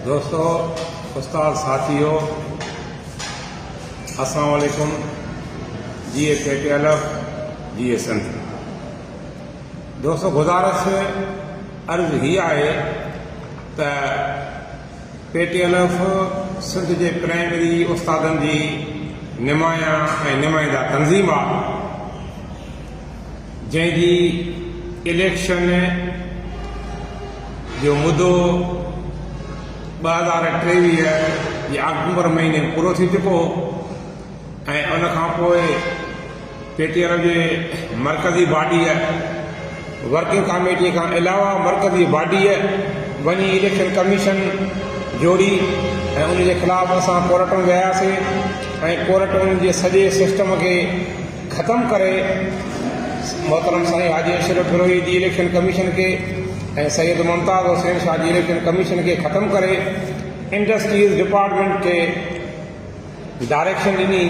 دوستو استاد ساٿيو السلام عليڪم جي A K T L F جي اي سنڌ دوستو گزارش عرض هي آهي ته P T L F Sindh جي پرائمري استادن جي نمايان ۽ نمائندا تنظيم آهي جنهن جي اليڪشن جو مدو ٻه هزار ٽيويهه جي آڪٽوبر مهيني ۾ پورو ٿي چڪو ۽ ان کان پوء پي ٽي آر جي مرڪزي باڊيء ورڪنگ ڪاميٽيء کان علاوه مرڪزي باڊيء وڃي اليڪشن ڪميشن جوڙي ۽ ان جي خلاف اسان ڪورٽ ۾ وياسي ۽ ڪورٽن جي سڄي سسٽم کي ختم ڪري محترم سائين حاجي اشرف بروهي جي اليڪشن ڪميشن کي ۽ سيد ممتاز حسين شاهه جي اليڪشن ڪميشن کي ختم ڪري انڊسٽريز ڊپارٽمينٽ کي ڊائريڪشن ڏني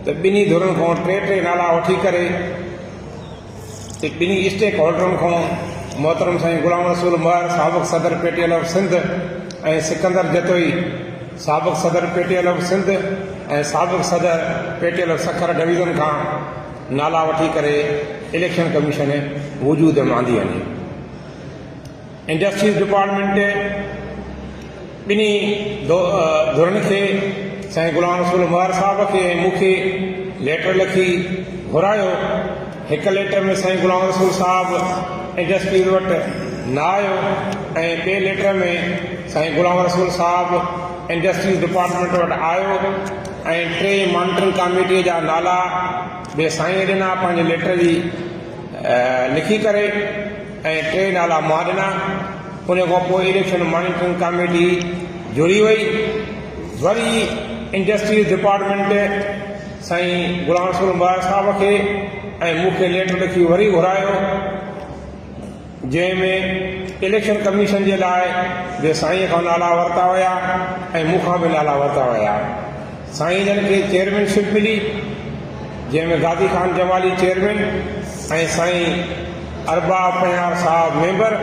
ته ٻنهي ڌرين کان ٽي ٽي نالا وٺي ڪري ته ٻنهي اسٽيڪ هولڊرن کان محترم سائين غلام رسول مهر سابق صدر P T L of Sindh ۽ Sikandar Jatoi سابق صدر P T L of Sindh ۽ سابق صدر P T L of Sukkur division کان نالا وٺي ڪري اليڪشن ڪميشن وجود ۾ آندي وڃي. انڊسٽريز ڊپارٽمينٽ ٻنهي ڌرن کي سائين غلام رسول مهر صاحب کي ۽ مون کي ليٽر لکي گهرايو هڪ ليٽر ۾ سائين غلام رسول صاحب انڊسٽريز وٽ نه آيو ۽ ٻئي ليٽر ۾ سائين غلام رسول صاحب انڊسٽريز ڊپارٽمينٽ وٽ آيو ۽ ٽي مانٽرنگ ڪاميٽيء جا نالا به سائينء ڏنا پنهنجي ليٽر جي لکي ڪري ۽ ٽي نالا مان ڏنا ان کان پوء اليڪشن مانيٽرنگ ڪاميٽي جڙي وئي وري انڊسٽريز ڊپارٽمينٽ سائين غلام رسول مبارڪ صاحب کي ۽ مون کي ليٽر لکي وري گهرايو جنهن ۾ اليڪشن ڪميشن جي لاء به سائين کان نالا ورتا ويا ۽ مون کان به نالا ورتا ويا سائين جن کي چيئرمين شپ ملي جنهن ۾ غازي خان جمالي چيئرمين ۽ سائين اربا پنهار صاحب ميمبر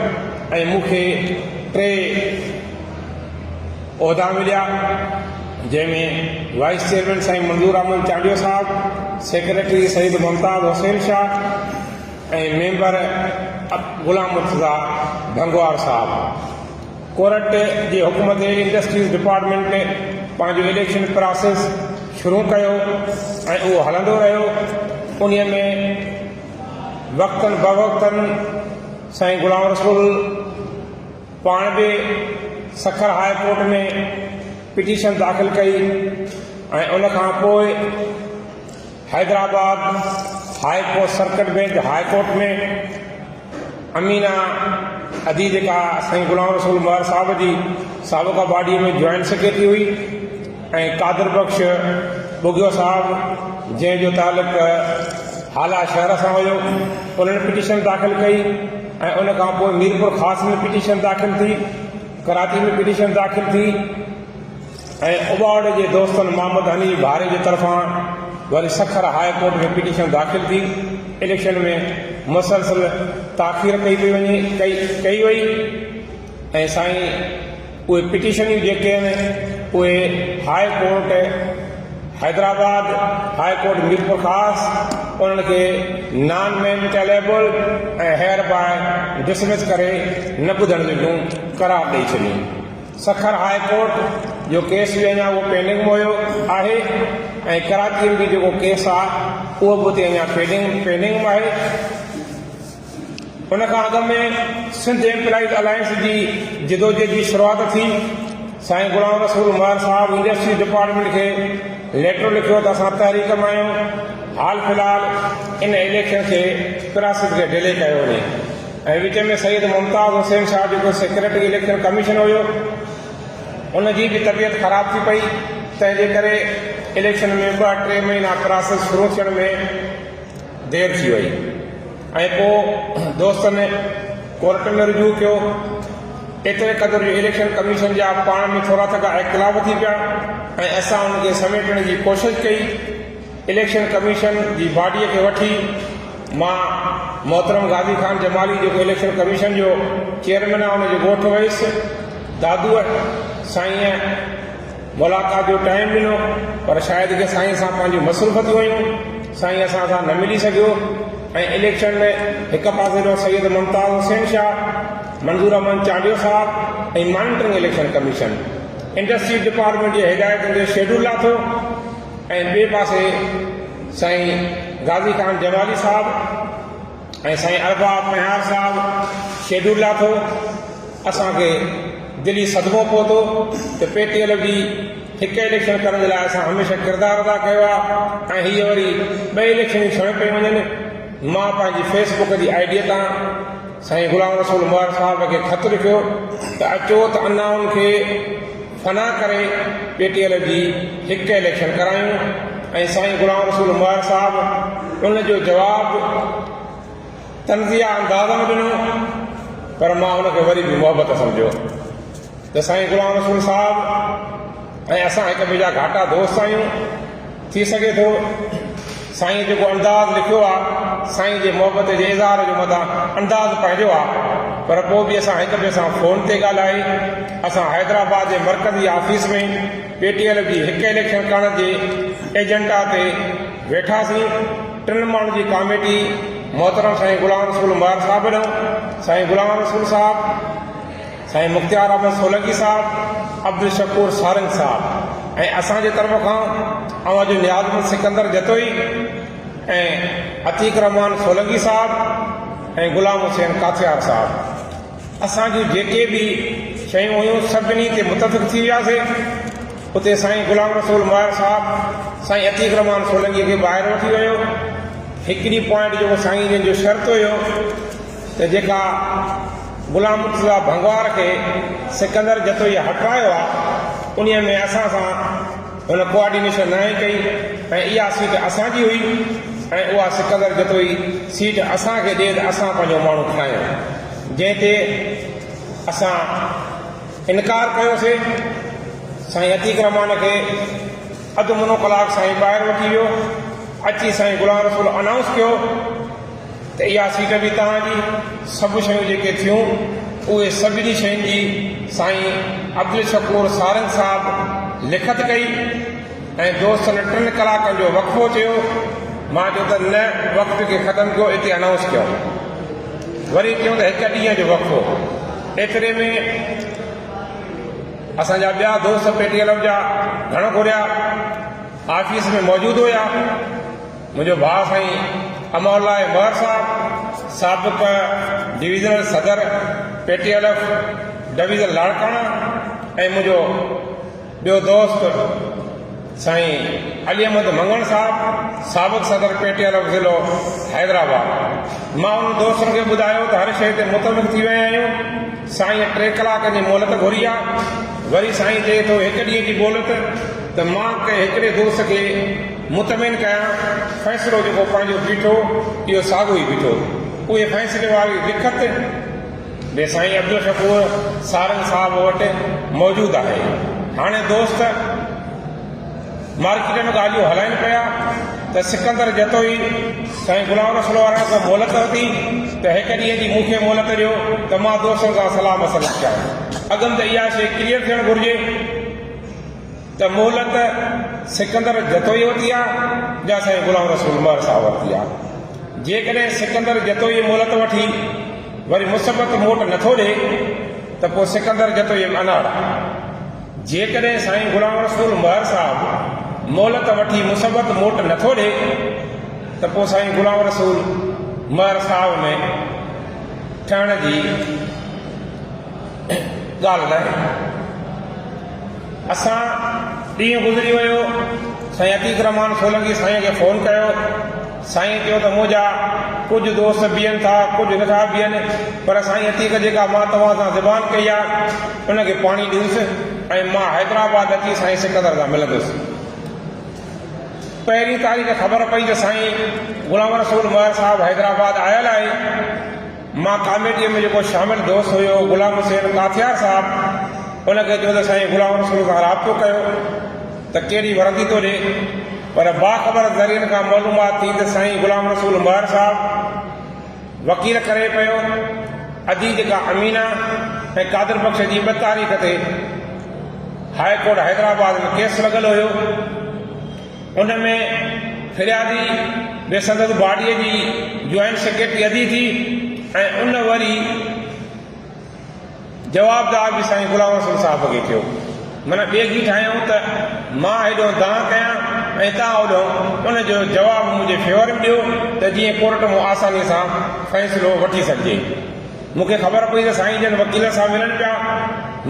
۽ مون کي ٽي عهدا مليا جنهن ۾ وائيس چيئرمين سائين منظور احمد چانڊيو صاحب، سيڪريٽري سيد ممتاز حسين شاهه ۽ ميمبر غلام مرتضيٰ ڀنگوار صاحب. ڪورٽ جي حڪم تي انڊسٽريز ڊپارٽمينٽ پنهنجو اليڪشن پراسيس شروع ڪيو ۽ اهو هلندو رهيو انهي ۾ وقتن بوقتن سائين غلام رسول پاڻ به سکر هاء ڪورٽ ۾ پٽيشن داخل ڪئي ۽ ان کان پوء Hyderabad high court circuit bench high court ۾ Amina ادي جيڪا سائين غلام رسول مهر صاحب جي سابقه باڊي ۾ جوائنٽ سيڪريٽري هئي ۽ قادر بخش ٻگهيو صاحب جنهن جو تعلق هالا شهر سان هيو انهن پٽيشن داخل ڪئي ۽ ان کان پوء ميرپور خاص ۾ پٽيشن داخل ٿي ڪراچي ۾ پٽيشن داخل ٿي ۽ اباوڙي جي دوستن محمد حنيف ڀاري جي طرفان وري سکر هاء ڪورٽ ۾ پٽيشن داخل ٿي اليڪشن ۾ مسلسل تاخير ڪئي پئي وڃي ڪئي ڪئي وئي ۽ سائين اهي پٽيشنيون جيڪي آهن اهي high court Hyderabad, high court Mirpurkhas انهن کي نان مينٽيليبل ۽ هيئر باء ڊسمس ڪري نه ٻڌڻ جوڳيون قرار ڏئي ڇڏيون. سکر هاء ڪورٽ جو ڪيس به اڃا اهو پينڊنگ موهيو آهي ۽ ڪراچيء ۾ به جيڪو ڪيس آهي اهو به اتي اڃا پينڊنگ پينڊنگ م آهي. ان کان اڳ ۾ سنڌ ايمپلائيز الائنس جي جدوجهد جي شروعات ٿي. سائين غلام رسول ميار صاحب انڊسٽريز ڊپارٽمينٽ کي ليٽر لکيو ته اسان تحريڪ مان آهيون، حال في الحال ان اليڪشن کي پراسيس کي ڊلي ڪيو وڃي ۽ وچ ۾ سيد ممتاز حسين شاهه جيڪو سيڪريٽري اليڪشن ڪميشن هيو ان جي به طبيعت خراب ٿي پئي تنهن جي ڪري اليڪشن ۾ ٻه ٽي مهينا پراسيس شروع ٿيڻ ۾ دير ٿي وئي ۽ پوء دوستن ڪورٽ ۾ رجوع ڪيو. ايتري قدر جو اليڪشن ڪميشن جا پاڻ ۾ ٿورا ٿڪا اختلاف ٿي پيا ۽ اسان ان کي سميٽڻ جي ڪوشش ڪئي. اليڪشن ڪميشن جي باڊيء کي وٺي مان محترم غازي خان جمالي جيڪو اليڪشن ڪميشن جو چيئرمين آهي ان جي ڳوٺ ويس. دادوء سائينء! ملاقات جو ٽائيم ڏنو پر شايد ڪي سائين سان پنهنجون مصروفتيون هيون سائين اسان سان نه ملي سگهيو ۽ اليڪشن ۾ هڪ پاسي ڏانهن سيد ممتاز حسين شاهه منظور احمد چانڊيو صاحب ۽ monitoring election commission industries department جي هدايتن تي شيڊول لاٿو ۽ ٻئي پاسي سائين غازي خان جمالي صاحب ۽ سائين ارباب مهار صاحب شيڊول لاٿو اسان کي دلي صدمو پهتو ته پي ٽي ايل جي هڪ اليڪشن ڪرڻ جي لاء اسان هميشه ڪردار ادا ڪيو آ ۽ هي وري ٻه اليڪشنون سڻ پئي وڃن مان پنهنجي فيس بڪ جي آئي ڊي تان سائين غلام رسول مهار صاحب کي خط لکيو ته اچو ته انائن کي فنا ڪري پي ٽي ايل جي هڪ اليڪشن ڪرايون ۽ سائين غلام رسول مهر صاحب ان جو جواب طنزيه انداز ۾ ڏنو پر مان ان کي وري به محبت سمجهيو ته سائين غلام رسول صاحب ۽ اسان هڪ ٻئي جا گهاٽا دوست آهيون ٿي سگهي ٿو سائين جيڪو انداز لکيو آ سائين جي محبت جي اظهار جو مداح انداز پنهنجو آ پر پو به اسان هڪ ٻئي سان فون تي ڳالهائي اسان حيدرآباد جي مرڪزي آفيس ۾ پي ٽي ايل جي هڪ اليڪشن ڪرڻ جي ايجنڊا تي ويٺاسين ٽن ماڻهن جي ڪاميٽي محترم سائين غلام رسول مهر صاحب ڏنو سائين غلام رسول صاحب سائين مختيار احمد سولنگي صاحب، عبدالشڪور سارنگ صاحب ۽ اسان جي طرف کان اوهان جو نيازمند سڪندر جتوئي ۽ عتيق الرحمان سولنگي صاحب ۽ غلام حسين ڪاٿيار صاحب اسان جون جيڪي به شيون هيون سڀني تي متفق ٿي وياسين اتي سائين غلام رسول ماهر صاحب سائين عتيق الرحمان سولنگي کي ٻاهر وٺي ويو هڪڙي پوائنٽ جو سائين جن جو شرط هيو ته جيڪا غلام مرتضيٰ ڀنگوار کي سڪندر جتوئيء هٽرايو آ، انهيء ۾ اسان سان هن ڪوآرڊينيشن ناهي ڪئي ۽ اها سيٽ اسان جي هئي ۽ اها سڪندر جتوئي سيٽ اسان کي ڏي ته اسان پنهنجو ماڻهو کڻايون، جنهن تي اسان انڪار ڪيو سي، سائين عتيق رحمان کي اڌ منو ڪلاڪ سائين ٻاهر وٺي ويو، اچي سائين غلام رسول انائونس ڪيو. ته اها سيٽ به توهان جي، سڀ شيون جيڪي ٿيون اهي سڀني شين جي سائين عبدالشڪور سارنگ صاحب لکت ڪئي ۽ دوستن ٽن ڪلاڪن جو وقفو چيو مان چيو ته نه وقت کي ختم ڪيو اتي انائونس ڪيو وري چيو ته هڪ ڏينهن جو وقفو ايتري ۾ اسان جا ٻيا دوست پيٽي ڪلب جا گهڻو گهريا آفيس ۾ موجود هيا منهنجو ڀاء سائين امان الله مهر صاحب سابق ڊويزنل صدر P T L F division Larkana ۽ منهنجو ٻيو دوست سائين علي احمد مڱڻ صاحب سابق صدر پي ٽي ايل ايف ضلعو حيدرآباد مان انهن دوستن کي ٻڌايو ته هر شيء تي متفق ٿي ويا آهيون سائين ٽي ڪلاڪن جي مهلت گهري آ وري سائين چئي ٿو هڪ ڏينهن جي مهلت ته مان ڪنهن هڪڙي دوست کي مطمئن ڪيان، فيصلو جيڪو پنهنجو بيٺو، اهو ساڳيو ئي بيٺو. اهي فيصلي واري لکت به سائين عبدالشڪور سارنگ صاحب وٽ موجود آهي. هاڻي دوست مارڪيٽ ۾ ڳالهيون هلائين پيا ته سڪندر جتوئي سائين غلام رسول وارن کان مهلت ورتي ته هڪ ڏينهن جي مون کي مهلت ڏيو ته مان دوستن سان صلاح مشورو ڪيان. اڳم ته اها شيء ڪليئر ٿيڻ گهرجي. ته مهلت سڪندر جتوئيء وٽ ئي آ جا سائين غلام رسول مهر صاحب وٽ ئي آ. جيڪڏهن سڪندر جتوئي مهلت وٺي وري مثبت موٽ نٿو ڏئي ته پوء سڪندر جتوئي به اناڙ آ. جيڪڏهن سائين غلام رسول مهر صاحب مهلت وٺي مثبت موٽ نٿو ڏئي ته پوء سائين غلام رسول مهر صاحب ۾ ٺهڻ جي ڳالهه ناهي. اسان ڏينهن گذري ويو سائين عتيق الرحمان سولنگي سائين کي فون ڪيو سائين چيو ته منهنجا ڪجهه دوست بيهن ٿا ڪجهه نٿا بيهن پر سائين عتيق جيڪا مان توهان سان زبان ڪئي آ ان کي پاڻي ڏيوس ۽ مان حيدرآباد اچي سائين سڪندر سان ملندس پهرين تاريخ خبر پئي ته سائين غلام رسول مهر صاحب حيدرآباد آيل آهي مان ڪاميٽيء ۾ جيڪو شامل دوست هيو غلام حسين ڪاٿيار صاحب ان کي چيو ته سائين غلام رسول سان رابطو ڪيو ته ڪهڙي وردي ٿو ڏي پر باخبر ذريعن کان معلومات ٿي ته سائين غلام رسول مهر صاحب وڪيل ڪري پيو ادي جيڪا امينا ۽ قادر بخش جي ٻه تاريخ تي هاء ڪورٽ حيدرآباد ۾ ڪيس لڳل هيو. ان ۾ فريادي به سندس باڊي جي جوائنٽ سيڪريٽري ادي ٿي ۽ ان وري جوابدار به سائين غلام حسن صاحب کي ٿيو معنيٰ ٻيگي ٺاهيائون ته مان هيڏو دانهن ڪيان ۽ تان هوڏو ان جو جواب منهنجي فيور ۾ ڏيو ته جيئن ڪورٽ مون آساني سان فيصلو وٺي سگهجي. مون کي خبر پئي ته سائين جن وڪيلن سان ملن پيا.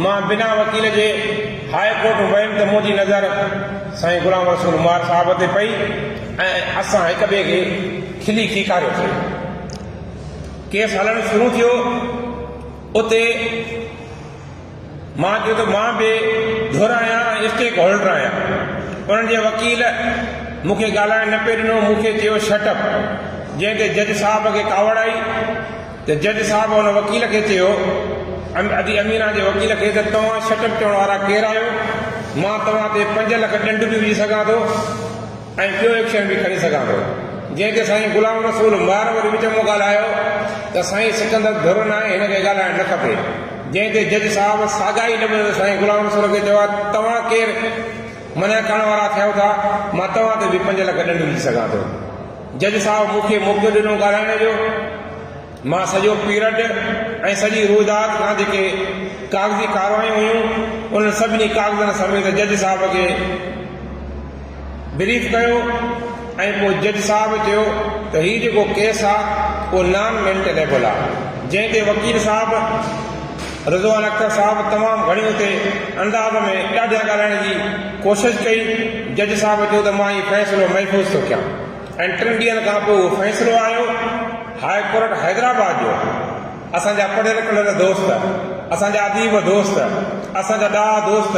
مان بنا وڪيل جي هاء ڪورٽ ويم ته منهنجي نظر سائين غلام رسول مار صاحب تي پئي ۽ اسان هڪ ٻئي کي کلي کيڪاريوسين. ڪيس هلڻ شروع ٿيو. اتي. مان چيو ته مان بي ڌر آهيان ۽ اسٽيڪ هولڊر آهيان. انهن جي وڪيل مون کي ڳالهائڻ نه پئي ڏنو، مون کي چيو شٽ اپ، جنهن تي جج صاحب کي ڪاوڙ آئي ته جج صاحب ان وڪيل کي چيو، ادي امينا جي وڪيل کي ته توهان شٽ اپ چوڻ وارا ڪير آهيو؟ مان توهان تي پنج لک ڏنڊ به وجهي سگهان ٿو. ۽ ٻيو ايڪشن به کڻي سگهان ٿو جنهن تي سائين غلام رسول ميار وري وچ ۾ ڳالهايو ته سائين سڪندر ڌر ناهي هن کي ڳالهائڻ نه کپي جنهن تي جج صاحب ساڳا ئي لفظ سائين غلام رسول کي چيا توهان ڪير منع ڪرڻ وارا ٿيو ٿا مان توهان تي به پنج لک ڏنڊ وجهي سگهان ٿو جج صاحب مون کي موقعو ڏنو ڳالهائڻ جو. مان سڄو پيرڊ ۽ سڄي روئداد کان جيڪي ڪاغذي ڪاروايون هيون انهن سڀني ڪاغذن سميت جج صاحب کي بريف ڪيو ۽ پوء جج صاحب چيو ته هي جيڪو ڪيس آ اهو نان مينٽينيبل آ جنهن تي وڪيل صاحب رضوان اختر صاحب تمام گهڻي اتي انداز ۾ ڏاڍيان ڳالهائڻ جي ڪوشش ڪئي جج صاحب چيو ته مان هي فيصلو محفوظ ٿو ڪيان ۽ ٽن ڏينهن کان پوء اهو فيصلو آيو هاء ڪورٽ حيدرآباد جو اسان جا پڙهيل ڪڙهيل دوست اسان جا اديب دوست اسان جا ڏاها دوست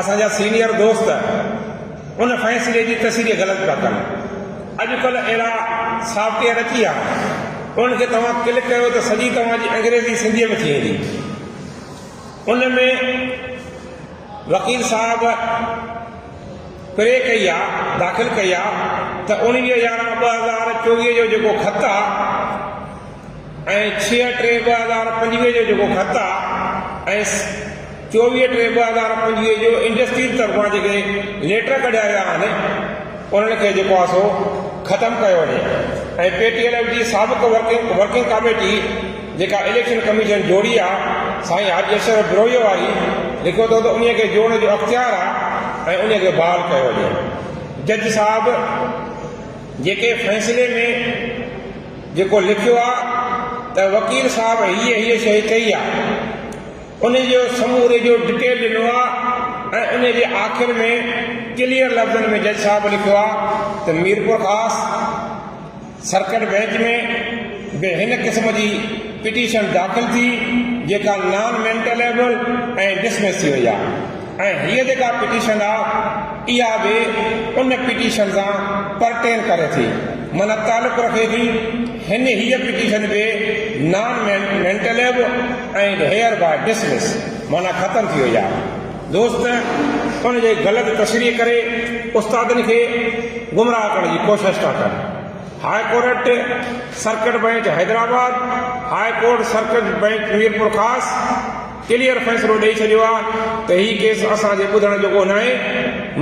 اسان جا سينيئر دوست ان فيصلي جي تشريح غلط پيا ڪن اڄڪلهه اهڙا سافٽ ويئر اچي ويا ان کي توهان ڪلڪ ڪيو ته سڄي توهان جي انگريزي سنڌي ۾ ٿي ويندي ان ۾ وڪيل صاحب پري ڪئي آ داخل ڪئي آ ته اوڻويهه يارهن ٻه هزار چوويهه جو جيڪو خط آ ۽ ڇهه ٽي ٻه هزار پنجويهه جو جيڪو خط آ ۽ چوويهه ٽي ٻه هزار پنجويهه جو انڊسٽريز طرفان جيڪي ليٽر ڪڍيا ويا آهن انهن کي جيڪو آ سو ختم ڪيو وڃي ۽ پي ٽي ايل ايف جي سابق ورڪنگ ڪاميٽي جيڪا اليڪشن ڪميشن جوڙي آ سائين حاجي اشرف بروهيء واري لکيو اٿو ته انهيء کي جوڙڻ جو اختيار آ ۽ انهيء کي بحال ڪيو وڃي جج صاحب جيڪي فيصلي ۾ جيڪو لکيو آ ته وڪيل صاحب هيء هيء شيء ڪئي آ انهيء جو سموري جو ڊٽيل ڏنو آ ۽ انهيء جي آخر ۾ ڪليئر لفظن ۾ جج صاحب لکيو آ ته ميرپورخاص سرڪٽ بئنچ ۾ به هن قسم جي پٽيشن داخل ٿي جيڪا نان مينٽليبل ۽ ڊسمس ٿي وئي آهي ۽ هيء جيڪا پٽيشن آهي اها به ان پٽيشن سان پرٽين ڪري ٿي معنيٰ تعلق رکي ٿي هن هيء پٽيشن به نان مينٽليبل ۽ هيئر باء ڊسمس معنيٰ ختم ٿي وئي آهي. دوست ان جي غلط تشريح ڪري استادن کي گمراهه ڪرڻ جي ڪوشش ٿا ڪن. High court circuit bench Hyderabad, high court circuit bench Mirpur Khas clear فيصلو ڏئي ڇڏيو آ ته هي ڪيس اسان جي ٻڌڻ جوڳو ناهي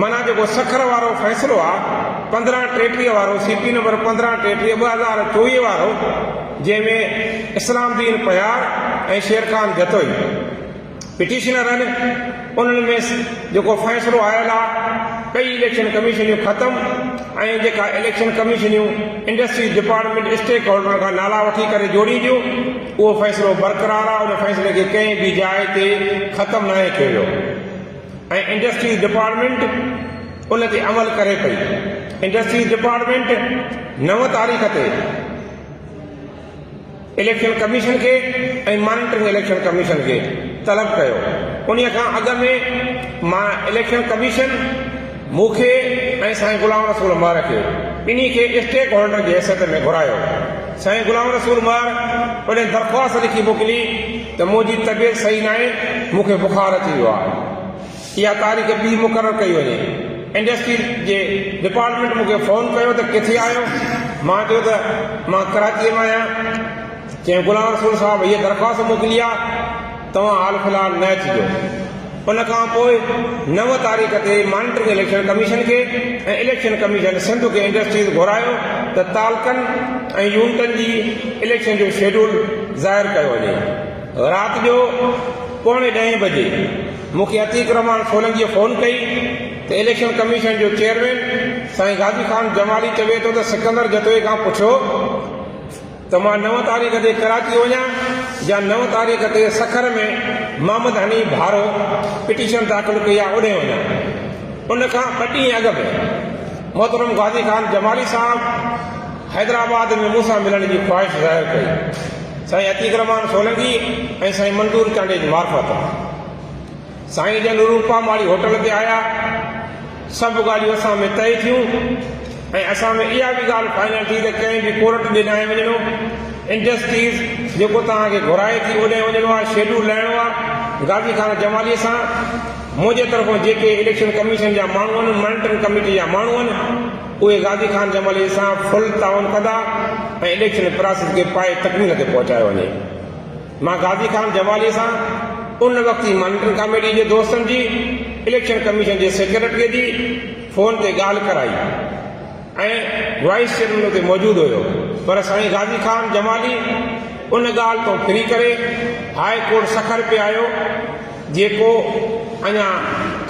معنيٰ جيڪو سکر وارو فيصلو آ پندرهن ٽيٽيهه وارو سي پي نمبر پندرهن ٽيٽيهه ٻه هزار چوويهه وارو جنهن ۾ اسلام دين پهيار ۽ شيرخان جتوئي پٽيشنرن انهن ۾ جيڪو فيصلو آيل آ ڪئي اليڪشن ڪميشنيون ختم ۽ جيڪا اليڪشن ڪميشنيون انڊسٽريز ڊپارٽمينٽ اسٽيڪ هولڊرن کان نالا وٺي ڪري جوڙينديون اهو فيصلو برقرار آ ان فيصلي کي ڪنهن به جاء تي ختم ناهي ڪيو ويو ۽ انڊسٽريز ڊپارٽمينٽ ان تي عمل ڪري پئي انڊسٽريز ڊپارٽمينٽ نو تاريخ تي اليڪشن ڪميشن کي ۽ مانيٽرنگ اليڪشن ڪميشن کي طلب ڪيو، انهي کان اڳ ۾ مان اليڪشن ڪميشن مون کي ۽ سائين غلام رسول مهر کي ٻنهي کي اسٽيڪ هولڊر جي حيثيت ۾ گهرايو، سائين غلام رسول مهر پڻهين درخواست لکي موڪلي ته منهنجي طبيعت صحيح ناهي، مون کي بخار اچي ويو آهي. اها تاريخ ٻي مقرر ڪئي وڃي. انڊسٽري جي ڊپارٽمينٽ مون کي فون ڪيو ته ڪٿي آهيو؟ مان چيو ته مان ڪراچيء ۾ آهيان. چيائين غلام رسول صاحب هيء درخواست موڪلي آهي، توهان حال في الحال نه اچجو. ان کان پوء نو تاريخ تي مانيٽرنگ اليڪشن ڪميشن کي ۽ اليڪشن ڪميشن سنڌ کي انڊسٽريز گهرايو ته تعلقن ۽ يونٽن جي اليڪشن جو شيڊول ظاهر ڪيو وڃي. رات جو پوڻي ڏهين بجي مون کي عتيق الرحمان سولنگيء فون ڪئي ته اليڪشن ڪميشن جو چيئرمين سائين غازي خان جمالي چوي ٿو ته سڪندر جتوئي کان پڇو ته مان نو تاريخ تي ڪراچي وڃان يا نو تاريخ تي سکر ۾ محمد حنيف ڀارو پٽيشن داخل ڪئي آهي اوڏهين وڃان ان کان ٻه ڏينهن اڳ به محترم غازي خان جمالي صاحب حيدرآباد ۾ مون سان ملڻ جي خواهش ظاهر ڪئي. سائين عتيق الرحمان سولنگي ۽ سائين منظور چانڊيي جي معرفت ۾ سائين جن روپا ماڙي هوٽل تي آيا. سڀ ڳالهيون اسان ۾ طئي ٿيون ۽ اسان ۾ اها به ڳالهه فائنل ٿي ته ڪنهن به ڪورٽ ڏي ناهي وڃڻو. انڊسٽريز جيڪو توهان کي گهرائي ٿي اوڏانهن وڃڻو آهي، شيڊول لهڻو آهي. غازي خان جمالي سان منهنجي طرفان جيڪي اليڪشن ڪميشن جا ماڻهو آهن، مانيٽرنگ ڪميٽي جا ماڻهو آهن، اهي غازي خان جمالي سان فل تعاون ڪندا ۽ اليڪشن پراسيس کي پائي تڪميل تي پهچايو وڃي. مان غازي خان جمالي سان ان وقت جي مانيٽرنگ ڪاميٽي جي دوستن جي، اليڪشن ڪميشن جي سيڪريٽري جي فون تي ڳالهه ڪرائي ۽ وائيس چيئرمين اتي موجود هيو پر سائين غازي خان جمالي ان ڳالهه تون ڦري ڪري هاء ڪورٽ سکر پي آيو. جيڪو اڃا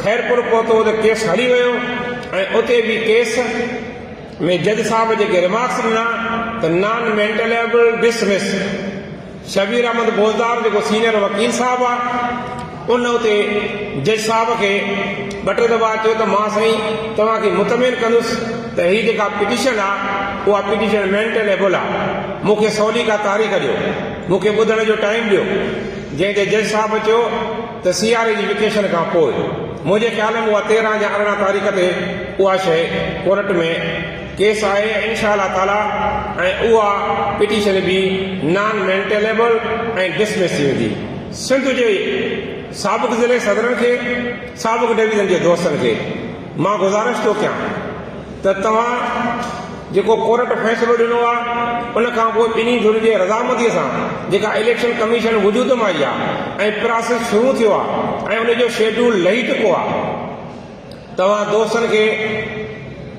خيرپور پهتو ته ڪيس هلي ويو ۽ اتي به ڪيس ۾ جج صاحب جيڪي ريمارڪس ڏنا ته non maintainable dismiss Shabbir Ahmed Bozdar جيڪو سينيئر وڪيل صاحب آ ان اتي جج صاحب کي ٻه ٽي دفعا چيو ته مان سائين توهان کي مطمئن ڪندس ته هي جيڪا پٽيشن آ اها پٽيشن مينٽل ايبل آ مون کي سولي ڪا تاريخ ڏيو مون کي ٻڌڻ جو ٽائيم ڏيو جنهن تي جج صاحب چيو ته سياري جي وڪيشن کان پوء منهنجي خيال ۾ اها تيرهن يا ارڙهن تاريخ تي اها شيء ڪورٽ ۾ ڪيس آهي ۽ انشاء الله تعاليٰ ۽ اها پٽيشن به نان مينٽيليبل ۽ ڊسمس ٿي ويندي سنڌ جي سابق ضلعي صدرن کي سابق ڊويزن جي دوستن کي مان گذارش ٿو ڪيان ته توهان جيڪو ڪورٽ فيصلو ڏنو آهي ان کانپوء ٻنهي ڌرين جي رضامنديء سان جيڪا اليڪشن ڪميشن وجود ۾ آئي آهي ۽ پراسيس شروع ٿيو آهي ۽ ان جو شيڊيول لهي چڪو آهي توهان دوستن کي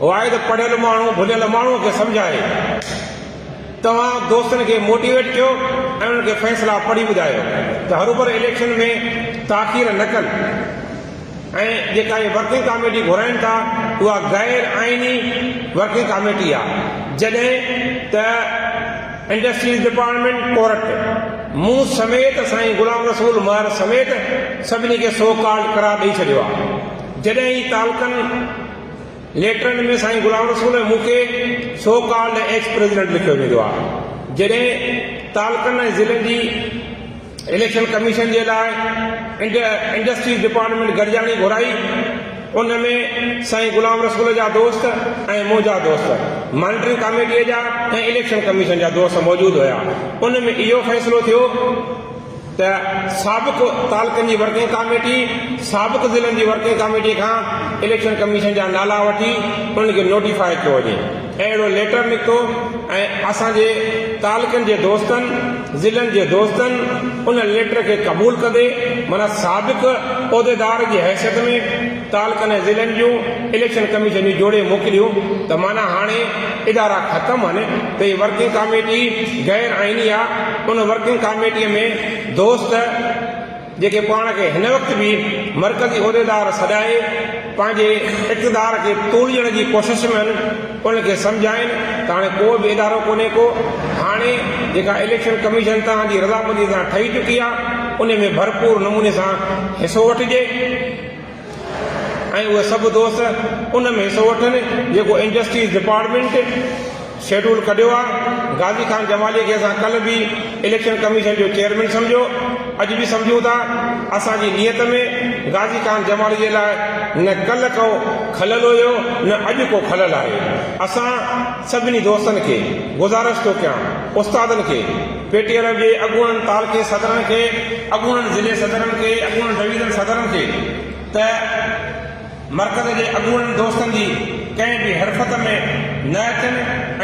واحد پڙهيل ماڻهو ڀليل ماڻهو کي سمجهائي توهان دوستن کي موٽيويٽ ڪيو ۽ انهن کي فيصلا پڙهي ٻڌايو ته هروڀرو اليڪشن ۾ تاخير نه ڪن ۽ جيڪا اهي ورڪنگ ڪاميٽي گهرائين ٿا اها غير آئيني ورڪنگ ڪاميٽي آهي جڏهن ته انڊسٽريز ڊپارٽمينٽ ڪورٽ مون سميت سائين غلام رسول مهر سميت سڀني کي سو ڪالڊ قرار ڏئي ڇڏيو آهي جڏهن هي تعلقن ليٽرن ۾ سائين غلام رسول ۽ مون کي سو ڪالڊ ايڪس پريزيڊنٽ لکيو ويندو آهي جڏهن تعلقن ۽ ضلعن جي اليڪشن ڪميشن جي لاء انڊسٽريز ڊپارٽمينٽ گڏجاڻي گهرائي، ان ۾ سائين غلام رسول جا دوست ۽ منهنجا دوست، مانيٽرنگ ڪاميٽيء جا ۽ اليڪشن ڪميشن جا دوست موجود هيا. ان ۾ اهو فيصلو ٿيو ته سابق تعلقن جي ورڪنگ ڪاميٽي سابق ضلعن جي ورڪنگ ڪاميٽيء کان اليڪشن ڪميشن جا نالا وٺي انهن کي نوٽيفاء ڪيو وڃي. اهڙو ليٽر نڪتو ۽ اسان جي تعلقن جي دوستن، ضلعن جي دوستن ان ليٽر کي قبول ڪندي معنيٰ سابق عهديدار جي حيثيت ۾ تعلقن ۽ ضلعن جون اليڪشن ڪميشنيون جوڙي موڪليون ته معنيٰ هاڻي ادارا ختم هن ته هي ورڪنگ ڪاميٽي غير آئيني آ ان ورڪنگ ڪاميٽي ۾ دوست جيڪي پاڻ کي هن وقت به مرڪزي عهديدار سڏائي پنهنجي اقتدار کي توليڻ جي ڪوشش ۾ آهن ان کي سمجهائين ته هاڻي ڪو به ادارو ڪونهي ڪو هاڻي جيڪا اليڪشن ڪميشن توهان جي رضامندي سان ٺهي چڪي آهي ان ۾ ڀرپور نموني سان حصو وٺجي. ۽ اهي سڀ دوست ان ۾ حصو وٺن جيڪو انڊسٽريز ڊپارٽمينٽ شيڊول ڪڍيو آ، غازي خان جمالي کي اسان ڪلهه به اليڪشن ڪميشن جو چيئرمين سمجهيو اڄ به سمجهون ٿا، اسان جي نيت ۾ غازي خان جمالي جي لاء نه ڪلهه ڪو کلل هيو نه اڄ ڪو کلل آهي، اسان سڀني دوستن کي گذارش ٿو ڪيان استادن کي. پي ٽي ايل جي اڳوڻن تعلقي صدرن کي، اڳوڻن ضلعي صدرن کي، اڳوڻن ڊويزن صدرن کي ته مرڪز جي اڳوڻن دوستن جي ڪنهن به حرفت ۾ نه اچن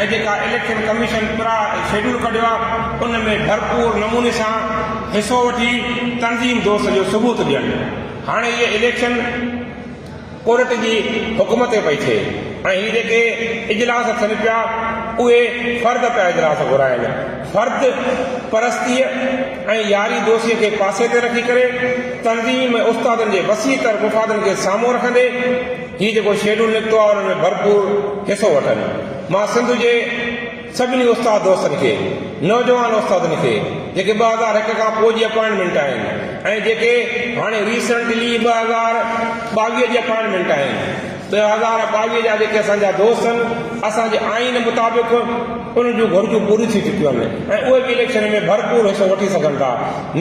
۽ جيڪا اليڪشن ڪميشن پرا شيڊول ڪڍيو آ ان ۾ ڀرپور نموني سان حصو وٺي تنظيم دوست جو ثبوت ڏين هاڻي اهي اليڪشن ڪورٽ جي حڪم تي پئي ٿئي ۽ هي جيڪي اجلاس ٿين پيا اهي فرد پيا اجلاس گهرائن فرد پرستيء ۽ ياري دوستيء کي پاسي تي رکي ڪري تنظيم ۽ استادن جي وسيع تر مفادن کي سامهون رکندي هي جيڪو شيڊول نڪتو آهي ان ۾ ڀرپور حصو وٺن مان سنڌ جي سڀني استاد دوستن کي، نوجوان استادن کي جيڪي ٻه هزار هڪ کان پوء جي اپائنٽمينٽ آهن ۽ جيڪي هاڻي ريسينٽلي ٻه هزار ٻاويهه جي اپائنٽمينٽ آهن، ٻه هزار ٻاويهه جا جيڪي اسان جا دوست آهن، اسان جي آئين مطابق انهن جون گهرجون پوريون ٿي چڪيون آهن ۽ اهي به اليڪشن ۾ ڀرپور حصو وٺي سگهن ٿا،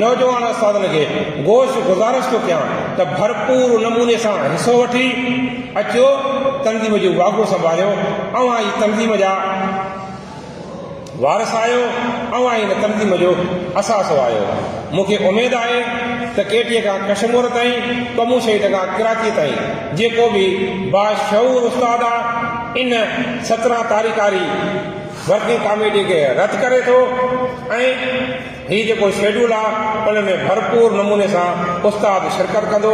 نوجوان استادن کي گوش گذارش ٿو ڪيان ته ڀرپور نموني سان حصو وٺي. اچو تنظيم جو واڳو سنڀاليو، اوهان ئي تنظيم جا وارث آهيو، اوهان ئي هن تنظيم جو اثاثو آهيو، مون کي اميد آهي ته ڪيٽيء کان ڪشمور تائين، ڪمون شهيد کان ڪراچيء تائين جيڪو به باشعور استاد آ ان سترهن تاريخ واري ورڪنگ ڪاميٽيء کي رد ڪري ٿو ۽ هي جيڪو شيڊول آ ان ۾ ڀرپور نموني سان استاد شرڪت ڪندو.